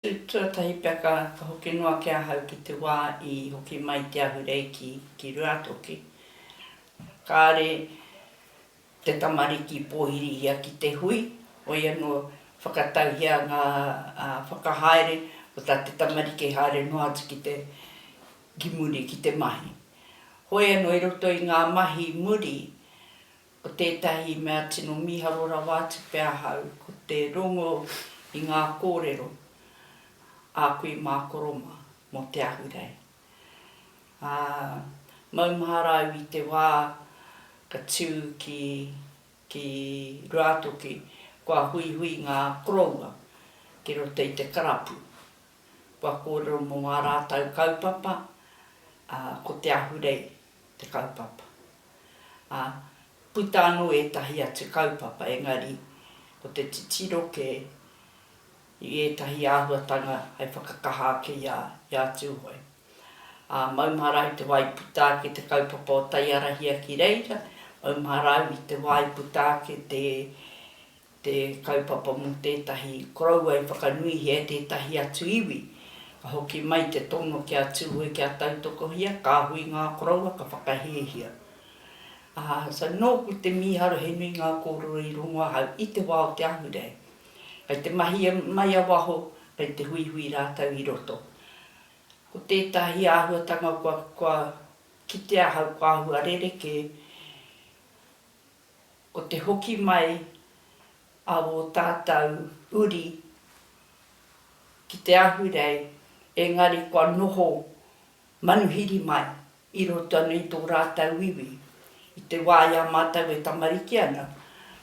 Tuatahi pea ka hoki noa ki ahau ki te wā i hoki mai te ahurei ki, ki Ruatoki. Kāre te tamariki pōhirihia ki te hui, hoi anō whakatauhia ngā whakahaere o tā te tamariki haere noa atu ki te, ki muri ki te mahi. Hoi anō i roto i ngā mahi muri, Ko tētahi mea tino mīharo rawa atu pea ahau ko te rongo i ngā kōrero a kui mā Koroma mō te ahurei. Ā, maumahara au i te wā ka tū ki, ki Ruātoki kua huihui ngā koroua ki roto i te karapu. Kua kōrero mō ā rātou kaupapa, ā, ko te ahurei te kaupapa. Ā, puta anō ētahi atu kaupapa, engari ko te titiro kē i ētahi āhuatanga hei whakakaha ake i a, i a Tūhoe. Ā, maumahara i te wā i puta ake te kaupapa o Taiarahia ki reira, maumahara au i te wā i puta ake te, te kaupapa mō tētahi koroua i whakanuihia e tētahi atu iwi. Ka hoki mai te tono ki a Tūhoe kia tautokohia, kāhui ngā koroua ka whakahēhia. Ā, so nōku te mīharo he nui ngā kōrero i rongo ahau i te wā o te Ahurei. Kei te mahi mai a waho, kei te huihui rātou i roto. Ko tētahi āhuatanga kua kitea ahau kua āhua rerekē, o te hoki mai a wō tātau uri ki te ahurei, engari kua noho manuhiri mai i roto ana i tō rātau iwi. I te wā i a mātau e tamariki ana,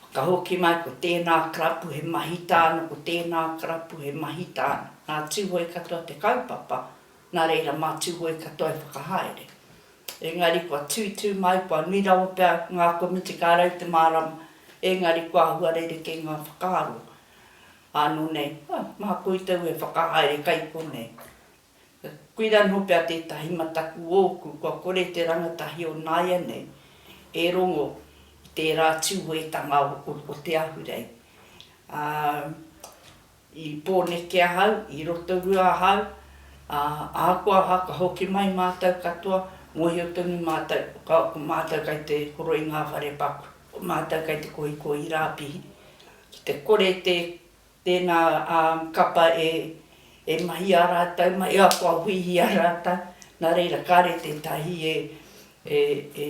whakahoki mai ko tēnā karapu he mahi tāna, ko tēnā karapu he mahi tāna. Nā Tūhoe katoa te kaupapa, nā reira mā Tūhoe katoa e whakahaere. Engari kua tū tū mai, kua nui rawa pea ngā komiti ka rau te mārama, engari kua āhua rerekē ngā whakaaro. Ānō nei, ā, mā koutou e whakahaere kai konei. Koira anō pea tētahi mataku ōku kua kore te rangatahi o nāianei e rongo i tērā tūhoetanga o te Ahurei. Ā, I Pōneke ahau, i Rotorua ahau, ā, ahakoa aha ka hoki mai mātou katoa, mōhio tonu mātou, ka, ko mātou kei te horo i ngā whare paku, ko mātou kei te kohikohi rāpihi, ki te kore tē, tēnā, ā, kapa e, e mahia rātou mai, e akoahuihia rātou, nā reira kāre tētahi e, e, e.